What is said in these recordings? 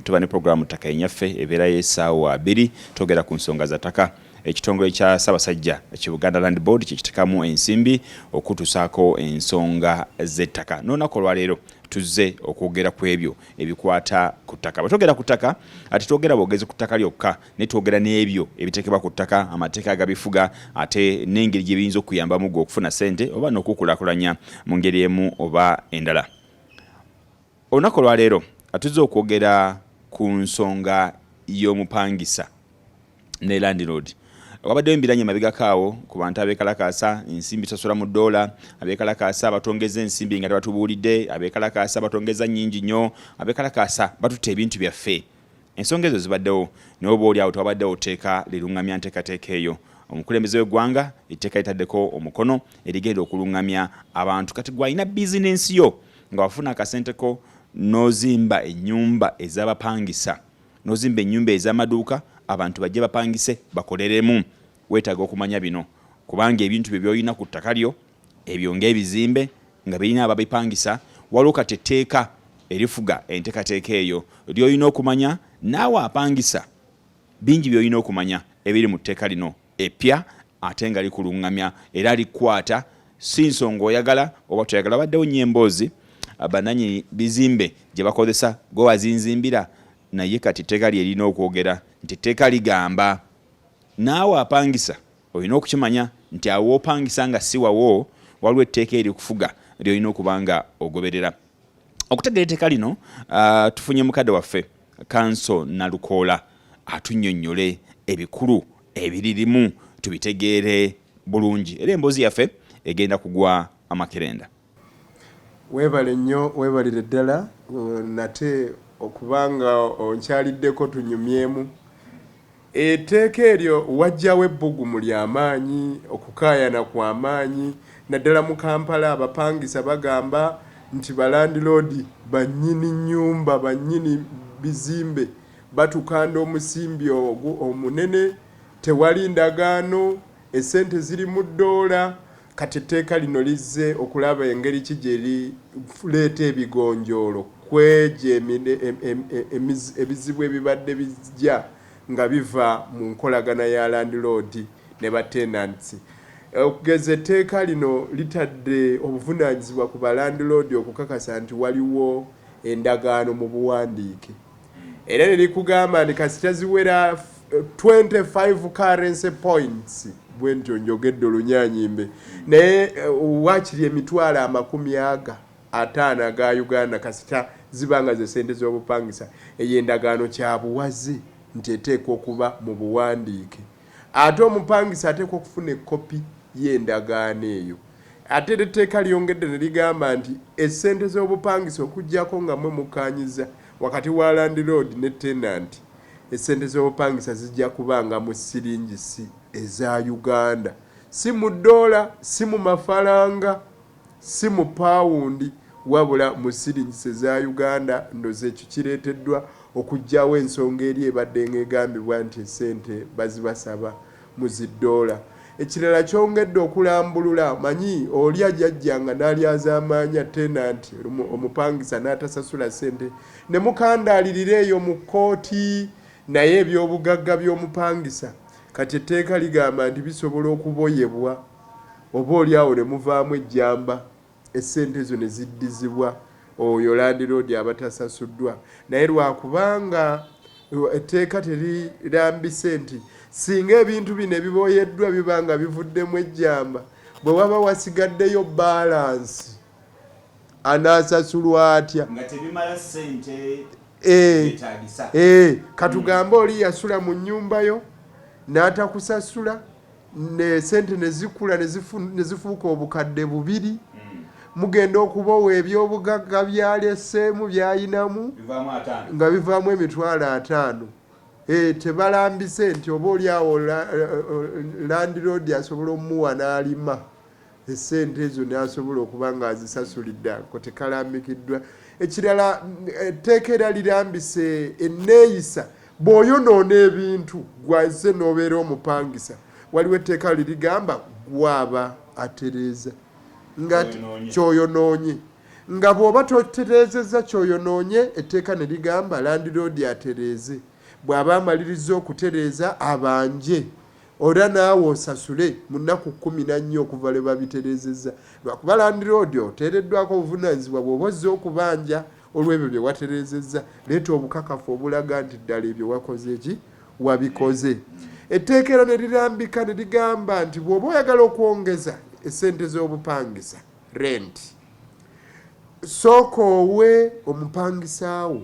Tuba ne pulogulaamu ttaka enyaffe ebeerayo esaawa abiri twogera ku nsonga za ttaka ekitongole kya Ssaabasajja ki Buganda Land Board kyekitekamu ensimbi okutusaako ensonga z'ettaka n'olunaku olwaleero tuzze okwogera ku ebyo ebikwata ku ttaka bwe twogera ku ttaka ate twogera bwogezi ku ttaka lyokka ne twogera n'ebyo ebiteekebwa ku ttaka amateeka agabifuga ate n'engeri gye biyinza okuyambamu gwe okufuna ssente oba n'okukulaakulanya mu ngeri emu oba endala Olunaku olwaleero atuzze okwogera ku nsonga y'omupangisa ne landlord wabaddewo embiranye emabegako awo ku bantu abeekalakaasa ensimbi sasula mu ddoola abeekalakaasa batongeza ensimbi nga tebatubuulidde abeekalakaasa batongeza nnyingi nnyo abeekalakaasa batutte ebintu byaffe ensonga ezo zibaddewo naye oba oli awo tewabaddewo oteeka liruŋŋamya nteekateeka eyo omukulembeze w'eggwanga etteeka litaddeko omukono erigenda okulungamya abantu kati gwalina bizinensi yo nga wafuna akasente ko n'ozimba ennyumba ez'abapangisa n'ozimba ennyumba ez'amaduuka abantu bajje bapangise bakoleremu weetaaga okumanya bino kubanga ebintu bye byolina ku ttaka lyo ebyo ng'ebizimbe nga birina ababipangisa waliwo kati etteeka erifuga enteekateeka eyo lyolina okumanya naawe apangisa bingi byolina okumanya ebiri mu tteeka lino eppya ate nga likulungamya era likwata si nsonga oyagala oba toyagala baddewo nnyo emboozi ah, bananyini bizimbe gye bakozesa gwe wazinzimbira naye kati etteeka lyerina okwogera nti etteeka ligamba naawe apangisa olina okukimanya nti awo opangisa nga si wawo waliwo etteeka erikufuga lyolina okuba nga ogoberera okutegeera etteeka lino ah, tufunye mukadde waffe kanso nalukoola atunyonyole ebikulu ebiririmu tubitegeere bulungi era emboozi yaffe egenda kugwa amakerenda. Weebale nnyo weebalire ddala nate okuba nga onkyaliddeko tunyumyemu. Etteeka eryo wajjawo ebbugumu lya maanyi, okukaayana kwa maanyi naddala mu Kampala. Abapangisa bagamba nti balandiloodi bannyini nnyumba, bannyini bizimbe. Batukanda omusimbi ogwo omunene, tewali ndagaano, essente ziri mu ddoola, kati etteeka lino lizze okulaba engeri ki gye lireeta ebigonjoolo kw'egyo ebizibu ebibadde bijja nga biva mu nkolagana ya landiloodi ne batenantsi. Okugeza etteeka lino litadde obuvunaanyizibwa ku balandiloodi okukakasa nti waliwo endagaano mu buwandiike. era ne likugamba nti kasita ziwera 25 currency points bwe ntyo njogedde olunyanyimbe naye eh, wakiri emitwalo amakumi aga ataano aga uganda kasita ziba nga ze sente z'obupangisa eyo endagaano kyabuwaze nti eteekwa okuba mu buwandiike Ate omupangisa ateekwa okufuna ekkopi y'endagaano eyo. Ate era etteeka lyongedde ne ligamba nti essente z'obupangisa okuggyako nga mmwe mukkaanyizza wakati wa landiroodi ne tenanti, essente z'obupangisa zijja kubanga mu ssiringisi eza Uganda, si mu ddoola, si mu mafalanga. si mu pound wabula mu shillings eza Uganda ndoza ekyo kireteddwa okujjawo ensonga eri ebaddenga egambibwa nti esente bazibasaba mu zi doola. Ekirala kyongedde okulambulula manyi oli ajajja nga nalyazamanya tenant lumu omupangisa natasasula sente ne mukandaalirira eyo mu kooti naye ebyobugagga byomupangisa kati etteeka ligamba nti bisobola okuboyebwa. oboolyawo ne muvaamu ejjamba essente ezo ne ziddizibwa oyo landiroodi aba tasasuddwa naye lwa kubanga etteeka terirambise nti singa ebintu bino ebiboyeddwa biba nga bivuddemu ejjamba bwe waba wasigaddeyo baalansi anaasasulwa atya? nga tebimala ssente Eh, eh, katugambe oli yasula mu nyumba yo n'atakusasula ne sente ne zikula ne zifuuka obukadde bubiri mugenda okubowa ebyobugagga byaleseemu byayinamu nga bivaamu emitwalo ataano eh, tebalambise nti oba oli awo landiroodi asobola omuwa n'alima essente ezo n'asobola okuba ng'azisasulidde ako tekalambikiddwa ekirala etteeka era lirambise enneeyisa bw'oyonoona ebintu gwaze n'obeera omupangisa waliwo etteeka lirigamba gwaba atereeza nga kyoyonoonye nga bw'oba totereezezza kyoyonoonye etteeka ne ligamba landiroodi atereeze bw'aba amalirizza okutereeza abanje Ora naawe osasule mu nnaku kkumi na nnya okuva lwe babitereezezza. Lwakuba landiroodi oteereddwako obuvunaanyizibwa bw'oba ozze okubanja olw'ebyo bye watereezezza. Leeta obukakafu obulaga nti ddala ebyo wakoze ki? Wabikoze. Etteeka era ne lirambika ne ligamba nti bw'oba oyagala okwongeza essente z'obupangisa, renti, sooka owe omupangisa wo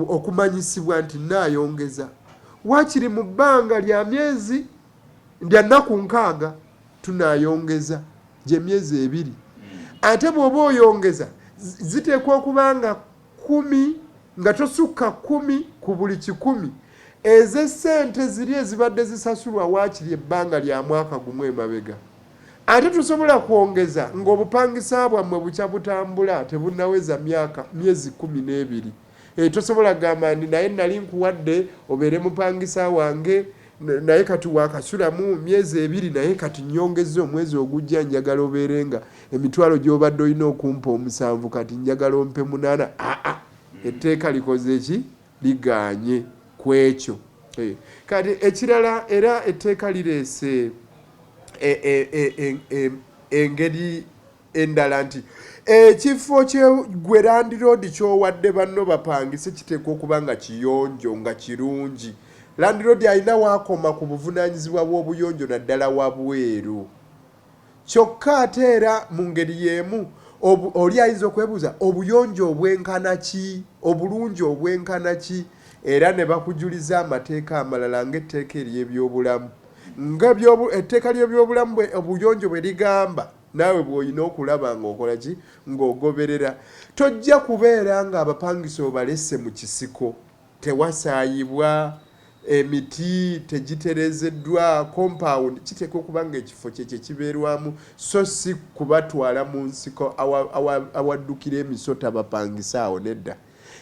okumanyisibwa nti nnaayongeza waakiri mu bbanga lya myezi lya nnaku nkaaga tunaayongeza gy'emyezi ebiri ate bw'oba oyongeza ziteekwa okuba nga kkumi nga tosukka kkumi ku buli kikumi ez'essente ziri ezibadde zisasulwa waakiri ebbanga lya mwaka gumu emabega Ate tusobola kwongeza ng'obupangisa bwammwe bukya butambula tebunnaweza myaka myezi kkumi n'ebiri. Eeh tosobola kugamba nti naye nnali nkuwadde obeere mupangisa wange naye kati waakasulamu myezi ebiri naye kati nnyongezza omwezi ogujja njagala obeere nga emitwalo gy'obadde olina okumpa omusanvu kati njagala ompe munaana. Aa, etteeka likoze ki? ligaanye ku ekyo. Kati ekirala era etteeka lireese engeri endala nti ekifo gwe landiroodi ky'owadde banno bapangise kiteekwa okuba nga kiyonjo, nga kirungi. Landiroodi alina w'akoma ku buvunaanyizibwa bw'obuyonjo naddala wabweru. Kyokka ate era mu ngeri y'emu oli ayinza okwebuuza obuyonjo obwenkana ki, obulungi obwenkana ki? Era ne bakujuliza amateeka amalala ng'etteeka ery'ebyobulamu. Nga etteeka ly'ebyobulamu obuyonjo bwe ligamba, naawe bw'olina okulaba ng'okola ki? Ng'ogoberera. Tojja kubeera ng'abapangisa obalese mu kisiko. Tewasaayibwa, emiti tegitereezeddwa, kompaawundi kiteekwa okuba ng'ekifo kye kye kibeerwamu so si kubatwala mu nsiko awaddukira emisota bapangise awo nedda.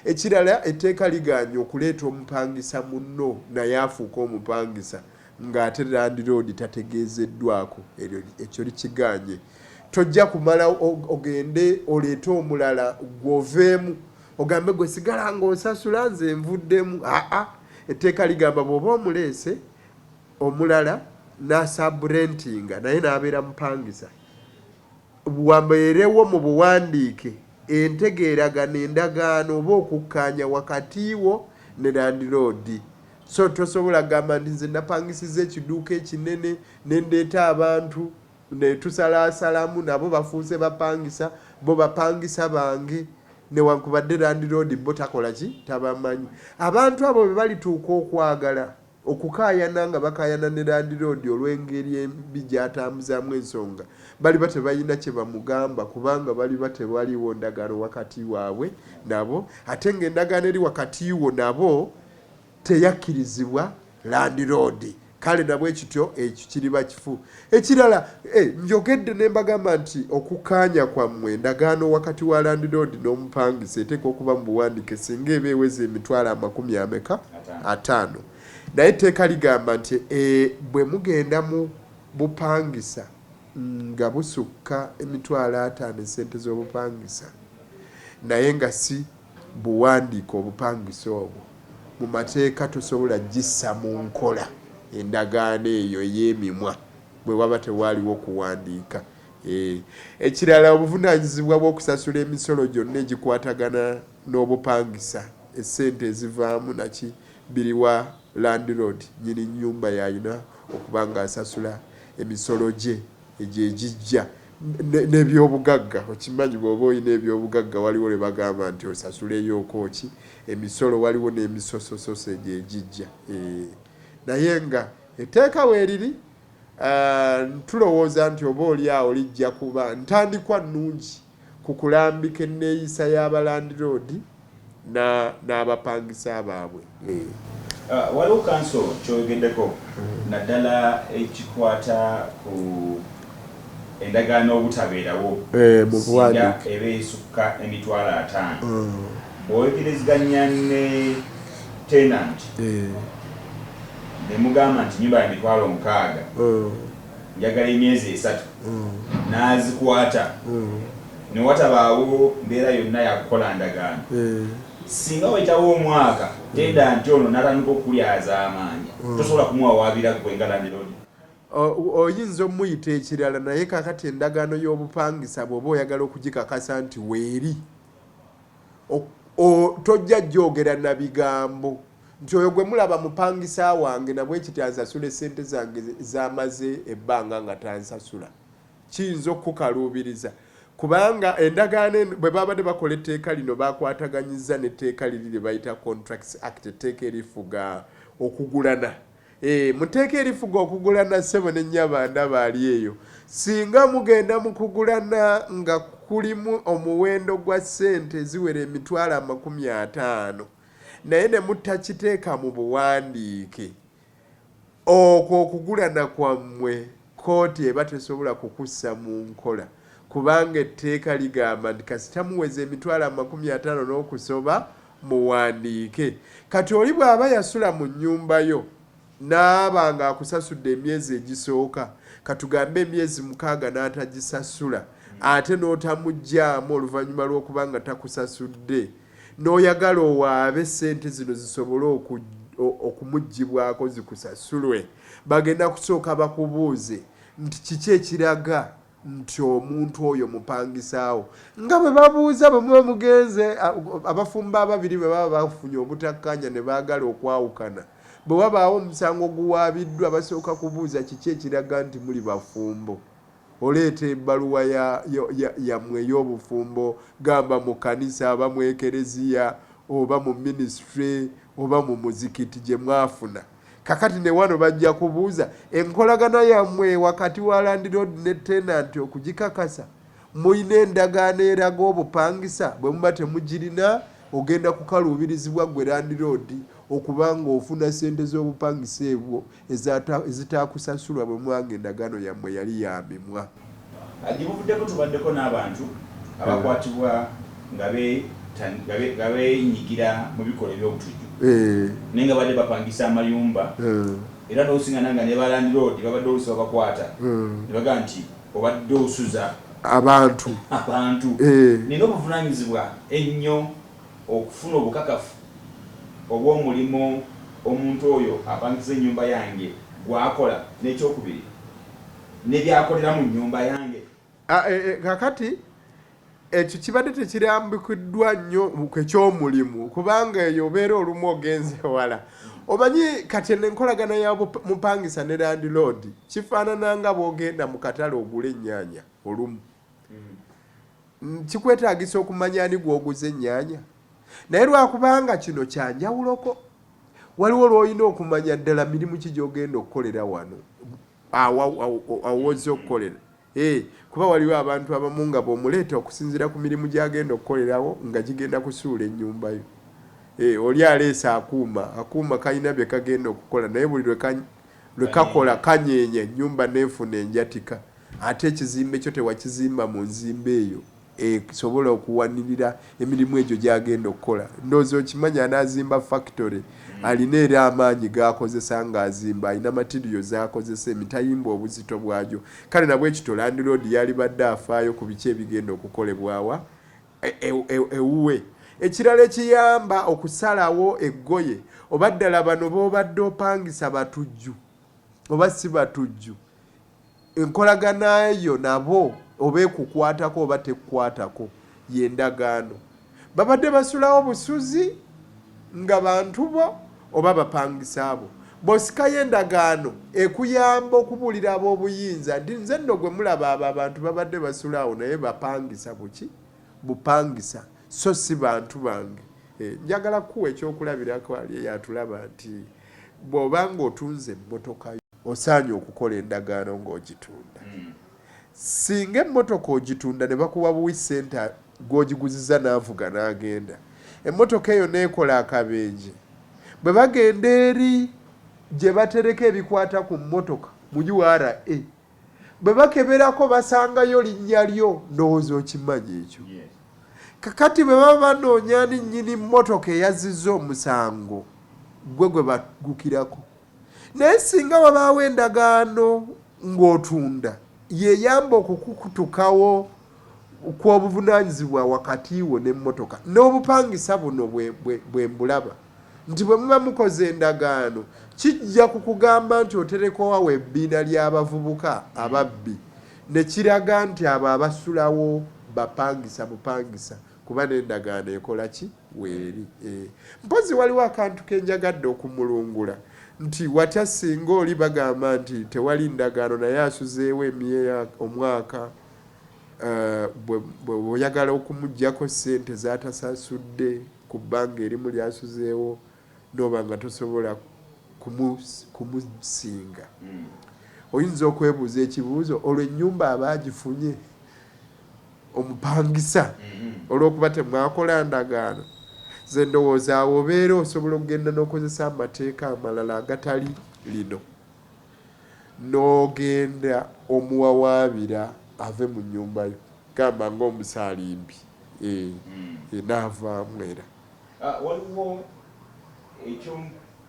Ekirala etteeka ligaanyi okuleeta omupangisa munno naye afuuke omupangisa ng'ate landiroodi tategeezeddwaako, ekyo likigaanye. Tojja kumala ogende oleete omulala ggwe oveemu ogambe gwe sigala ng'osasula nze nvuddemu aa etteeka ligamba bw'oba omuleese omulala n'asaburentinga naye n'abeera mupangisa wabeerewo mu buwandiike entegeeragana endagaano oba okukkaanya wakati wo ne landiroodi so tosobola kugamba nti nze napangisiza ekiduuka ekinene nendeeta abantu netusalaasalamu nabo bafuuse bapangisa bo bapangisa bange newankubadde landiroodi bo takola ki tabamanyi abantu abo bebalituuka okwagala okukaayana nga bakaayana ne landiroodi olw'engeri embi gyatambuzaamu ensonga baliba tebalina kye bamugamba kubanga baliba tewaliwo ndagaano wakati waabwe nabo ate ng'endagaano eri wakati wo nabo teyakkirizibwa landiroodi kale nabwe kityo ekyo kiriba kifu ekirala eh, njogedde ne mbagamba nti okukaanya kwammwe endagaano wakati wa landiroodi n'omupangisa eteeka okuba mu buwandike singa eba eweza emitwalo amakumi ameka ataano naye etteeka ligamba nti eh, bwe mugenda mu bupangisa nga busukka emitwalo ataano esente z'obupangisa naye nga si buwandiike obupangisa obwo mu mateeka tosobola kugissa mu nkola endagaano eyo ey'emimwa bwe waba tewaaliwo kuwandiika. Ekirala obuvunaanyizibwa bw'okusasula emisolo gyonna egikwatagana n'obupangisa, essente ezivaamu naki, biri wa landiroodi, nnyini nnyumba y'alina okuba ng'asasula emisolo gye. Egyo egijja nebyobugagga okimanyi bwoba olina ebyobugagga waliwo lwebagamba nti osasuleyooko ki emisolo waliwo nemisosososo egyo egijja eeh naye nga eteeka weriri aah tulowooza nti oba oli awo lijja kuba ntandikwa nungi. ku kulambika enneeyisa ya balandiroodi n'abapangisa baabwe. Waliwo kkanso ky'oyogeddeko naddala ekikwata ku endagaano obutabeerawo singa eba esukka emitwalo ataano. Bw'oyogerezeganya ne tenanti ne mugamba nti ennyumba ya mitwalo nkaaga, njagala emyezi esatu n'azikwata ne watabaawo mbeera yonna ya kukola ndagaano. Ssinga wayitawo omwaka tenda nti ono n'atandika okukulyazaamaanya, tosobola kumuwawaabira ggwe nga landiroodi. Oyinza omuyita ekirala naye kaakati endagaano y'obupangisa bw'oba oyagala okugikakasa nti weeri, tojja gyogera na bigambo. nti oyo gwe mulaba mupangisa wange na bwe kiti ansasula essente zange z'amaze ebbanga nga tansasula, kiyinza okukukaluubiriza kubanga endagaano eno bwe baabadde bakola etteeka lino baakwataganyizza n'etteeka liri lye bayita Contracts Act, etteeka erifuga okugulana. Eh, mu tteeka erifuga okugulana ssebo ne nnyaba ndaba ali eyo, singa mugenda mu kugulana nga kulimu omuwendo gwa ssente ziwera emitwalo amakumi ataano. naye ne mutakiteeka mu buwandiike, okwo okugulana kwammwe kkooti eba tesobola kukussa mu nkola kubanga etteeka ligamba nti kasita muweza emitwalo amakumi ataano n'okusoba muwandiike. Kati oli bw'aba yasula mu nnyumba yo n'aba ng'akusasudde emyezi egisooka, katugambe emyezi mukaaga n'atagisasula ate n'otamugyamu oluvannyuma lw'okuba nga takusasudde, n'oyagala owaabe ssente zino zisobole okumugibwako zikusasulwe bagenda kusooka bakubuuze nti kiki ekiraga nti omuntu oyo mupangisaawo nga bwe babuuza bwe muba mugenze abafumba ababiri bwe baba bafunye obutakkaanya ne baagala okwawukana bwe wabaawo omusango oguwaabiddwa basooka kubuuza kiki ekiraga nti muli bafumbo Oleeta ebaluwa ya, ya, ya, yammwe ey'obufumbo, gamba mu kkanisa, oba mu ekereziya, oba mu minisitule, oba mu muzikiti, gye mwafuna. Kakati ne wano bajja kubuuza, Enkolagana yammwe wakati wa landiroodi ne tenanti okugikakasa? Mulina endagaano eraga obupangisa? Bwe muba temugirina, ogenda kukaluubirizibwa ggwe landiroodi okuba nga ofuna ssente z'obupangisa ebwo ezitaakusasulwa bwe mwanga endagaano yammwe yali ya mimwa. Gye buvuddeko tubaddeko n'abantu abakwatibwa nga beenyigira mu bikolwa eby'obutujju naye nga babadde bapangisa amayumba era n'osingana nga ne ba landiroodi babadde oluusi babakwata ne bagamba nti obadde osuza abantu nina obuvunaanyizibwa ennyo. okufuna obukakafu obw'omulimo omuntu oyo apangiza ennyumba yange gw'akola n'ekyokubiri ne by'akolera mu nnyumba yange. A, e, e, kakati ekyo kibadde tekirambikiddwa nnyo kwe ky'omulimu kubanga eyo obeera olumu ogenze wala omanyi kati eno enkolagana ya mupangisa ne landiloodi kifaanana nga bw'ogenda mu katale ogula ennyaanya olumu mm. kikwetagisa okumanya ani gwoguza ennyanya naye lwakubanga kino kyanjawuloko waliwo lwolina okumanya ddala mirimu ki gyogenda okukolera wano awoza okukolera eh, kuba waliwo abantu abamu nga bwomuleeta okusinzira ku mirimu gyagenda okukolerawo nga gigenda kusuula ennyumbayo eh, oli aleese akuuma akuuma kalina bye kagenda okukola naye buli lwekakola kanyenya ennyumba nefuna enjatika Ate ekizimbe kyo tewakizimba mu nzimba eyo esobola okuwanirira emirimu egyo gy'agenda okukola. Ndowooza okimanyi anaazimba fakitole alina era amaanyi g'akozesa ng'azimba, alina matiriyo z'akozesa, emitayimbwa obuzito bwagyo. Kale na bwe kityo landiroodi yalibadde afaayo ku biki ebigenda okukolebwa wa? Ewuwe. Ekirala ekiyamba okusalawo eggoye, oba ddala bano b'obadde opangisa batujju oba si batujju. Enkolagana yo nabo oba ekukwatako oba tekukwatako ye ndagaano. Babadde basulawo busuzi nga bantu bo oba bapangisa bo. Bw'osikayo endagaano ekuyamba okubuulira ab'obuyinza nti nze nno gwe mulaba abo abantu babadde basula awo naye bapangisa buki? Bupangisa so si bantu bange. Njagala kukuwa ekyokulabirako Ali eyatulaba nti bw'oba ng'otunze emmotoka yo. Osaanye okukola endagaano ng'ogitunda. Ssinga emmotoka ogitunda ne bakuwa buwi ssente gw'ogiguzizza n'avuga n'agenda, emmotoka eyo n'ekola akabenje, bwe bagenda eri gye batereka ebikwata ku mmotoka mu ura, bwe bakeberako basangayo linnya lyo, ndowooza okimanyi ekyo. Kakati bwe baba banoonya ani nnyini mmotoka eyazzizza omusango, ggwe gwe baggukirako. Naye singa wabaawo endagaano ng'otunda, y'eyamba okukukutukawo kw'obuvunaanyizibwa wakati wo n'emmotoka n'obupangisa. Buno bwe mbulaba nti bwe muba mukoze endagaano, kijja ku kugamba nti oterekoawo ebbiina ly'abavubuka ababbi ne kiraga nti abo abasulawo bapangisa bupangisa kuba n'endagaano ekola ki weeri. Eh, mpozzi waliwo akantu ke njagadde okumulungula nti watya singa oli bagamba nti tewali ndagaano naye asuzeewo emyea omwaka eh, bweoyagala okumugjako sente zatasasudde ku bbanga erimu lyasuzeewo N'oba nga tosobola kumusinga, oyinza okwebuuza ekibuuzo, Olwo ennyumba aba agifunye omupangisa olw'okuba temwakola ndagaano? Nze ndowooza awo obeera osobola okugenda n'okozesa amateeka amalala agatali lino n'ogenda omuwawaabira ave mu nnyumba yo, gamba ng'omusaalimbi, ee, ee, n'avaamu era. Waliwo ekyo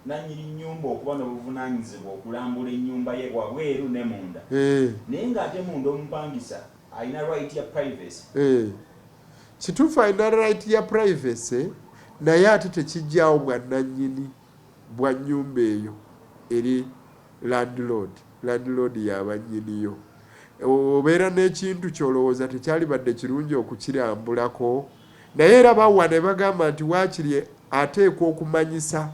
nannyini nnyumba okuba n'obuvunaanyizibwa okulambula ennyumba ye wabweru ne munda naye ng'ate munda omupangisa alina right ya privacy. Kituufu alina right ya privacy naye ate tekiggyaawo bwannannyini bwa nnyumba eyo eri landlord. Landlord y'aba nnyiniyo. Obeera n'ekintu ky'olowooza tekyalibadde kirungi okukirambulako? Naye era bawa ne bagamba nti waakiri ateekwa okumanyisa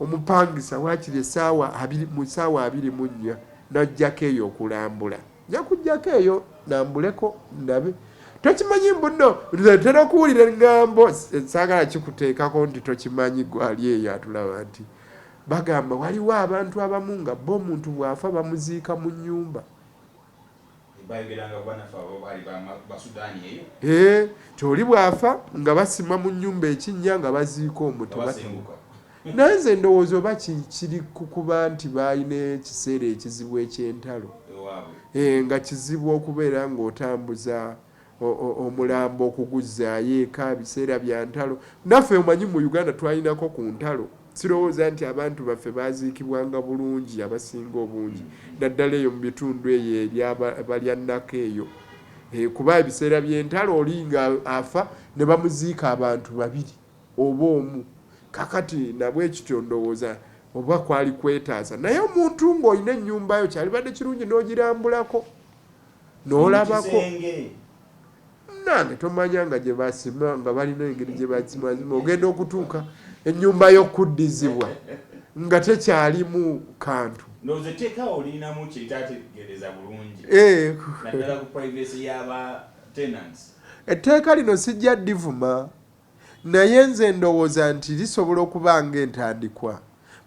omupangisa waakiri essaawa abiri mu ssaawa abiri mu nnya n'aggyako eyo okulambula. Nja kuggyako eyo nambuleko ndabe. Tokimanyi mbu nno nze ntera okuwulira eŋŋambo saagala kikuteekako nti tokimanyi gwali eyo atulaba nti bagamba waliwo abantu abamu nga bo omuntu bw'afa bamuziika mu nnyumba Eeh nti oli bw'afa nga basima mu nnyumba ekinnya nga baziika omwo tebatabuka. Naye nze ndowooza oba ki kiri ku kuba nti baalina ekiseera ekizibu eky'entalo ewaabwe eeh nga kizibu okubeera ng'otambuza omulambo okuguzzaayo eka biseera bya ntalo naffe omanyi mu Uganda twalinako ku ntalo sirowooza nti abantu baffe baaziikibwanga bulungi abasinga obungi naddala eyo mu bitundu eyo eryabalya nnako eyo eh, kuba ebiseera by'entalo oli nga afa ne bamuziika abantu babiri oba omu kakati nabwe ekityo ndowooza oba kwali kwetaasa naye omuntu ng'olina ennyumba yo kyalibadde kirungi n'ogirambulako nolabako nange tomanya nga gyebasima nga balina engeri gyebasimazima ogenda okutuuka enyumba yokuddizibwa nga tekyalimu kantu etteeka lino sijja divuma Naye nze ndowooza nti lisobola okuba nga entandikwa.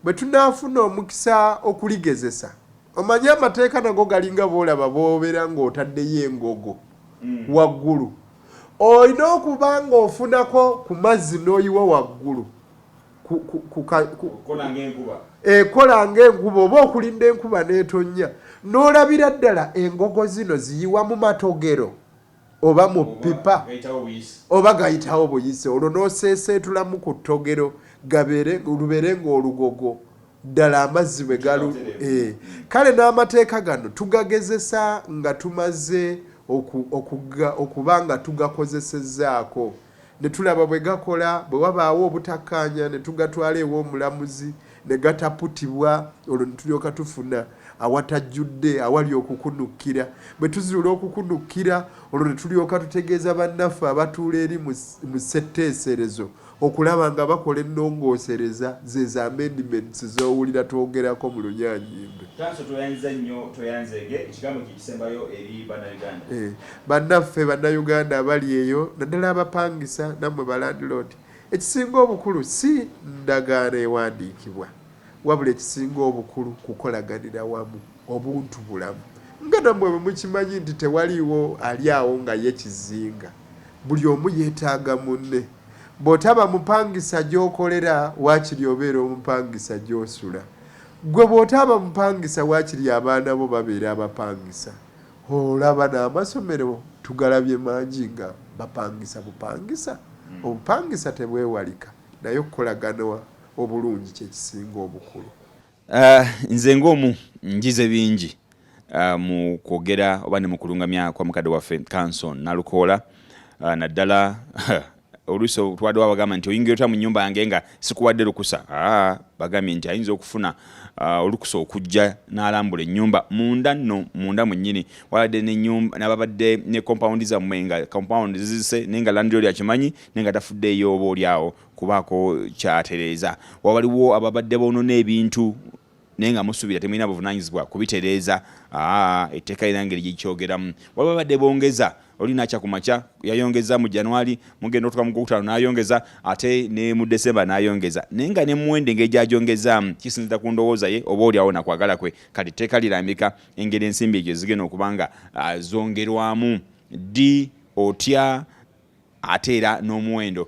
Bwe tunaafuna omukisa okuligezesa. Omanyi, amateeka nago galinga b'olaba b'obera nga otaddeyo engogo waggulu. Olina okuba nga ofunako ku mazzi n'oyiwa waggulu ku, ku, ku, ka, ku, Okukola ng'enkuba. ekola ng'enkuba oba okulinda enkuba n'etonnya. N'olabira ddala engogo zino ziyiwa mu matogero. oba mu ppipa oba gayitawo buyisi olwo n'oseeseetulamu ku ttogero lubeere ng'olugogo ddala amazzi bwe galu eh. kale n'amateeka gano tugagezesa nga tumaze okuba nga tugakozesezzaako ne tulaba bwe gakola, bwe wabaawo obutakkaanya ne tugatwala ew'omulamuzi ne gataputibwa, olwo ne tulyoka tufuna awatajjudde, awali okukunukkira. Bwe tuzuula okukunukkira, olwo ne tulyoka tutegeeza bannaffe abatuula eri mu mu ssetteeserezo okulaba nga bakola ennongoosereza, zeezo amendments z'owulira twogerako mu Lunyaanyimbe. Tanso tweyanziza nnyo tweyanzeege ekigambo ki. Bannaffe Bannayuganda abali eyo naddala abapangisa nammwe balandiloodi, ekisinga obukulu si ndagaano ewandiikibwa wabula ekisinga obukulu kukolaganira wamu, obuntubulamu nga nammwe bwe mukimanyi nti tewaliwo ali awo nga ye kizinga, buli omu yeetaaga munne. Bw'otaba mupangisa gy'okolera waakiri obeera omupangisa gy'osula. Ggwe bw'otaaba mupangisa waakiri abaana bo babeera abapangisa. Olaba n'amasomero tugalabye mangi nga bapangisa bupangisa. Obupangisa tebwewalika naye okukolagana obulungi kye kisinga obukulu. Nze ng'omu njize bingi mu kwogera oba ne mu kulungamya kwa mukadde waffe Kanso Nalukoola naddala oluusi otwaddewo abagamba nti oyingira otya mu nyumba yange nga sikuwadde lukusa ah, bagambye nti ayinza okufuna ah, olukusa okujja n'alambula ennyumba munda nno munda mwennyini wabadde nababadde ne kompawundi zammwe nga kompawundi zizise naye nga landlord akimanyi naye nga tafudde eyooba oli awo kubaako kyatereeza wabaliwo ababadde boonona ebintu naye nga musuubira temulina buvunanyizibwa kubitereeza ah, etteeka lina ngeri gyekyogeramu waliwo abadde bongeza oli nakya ku makya yayongeza mu januari mugenda otuka mu gwokutaano nayongeza ate ne mu december nayongeza naye nga ne muwendo engeri gyagyongezaamu kisinzira ku ndowooza ye oba oli awo nakwagala kwe kati etteeka lirambika engeri ensimbi egyo zigenda okuba nga ah, zongerwamu ddi otya ate era n'omuwendo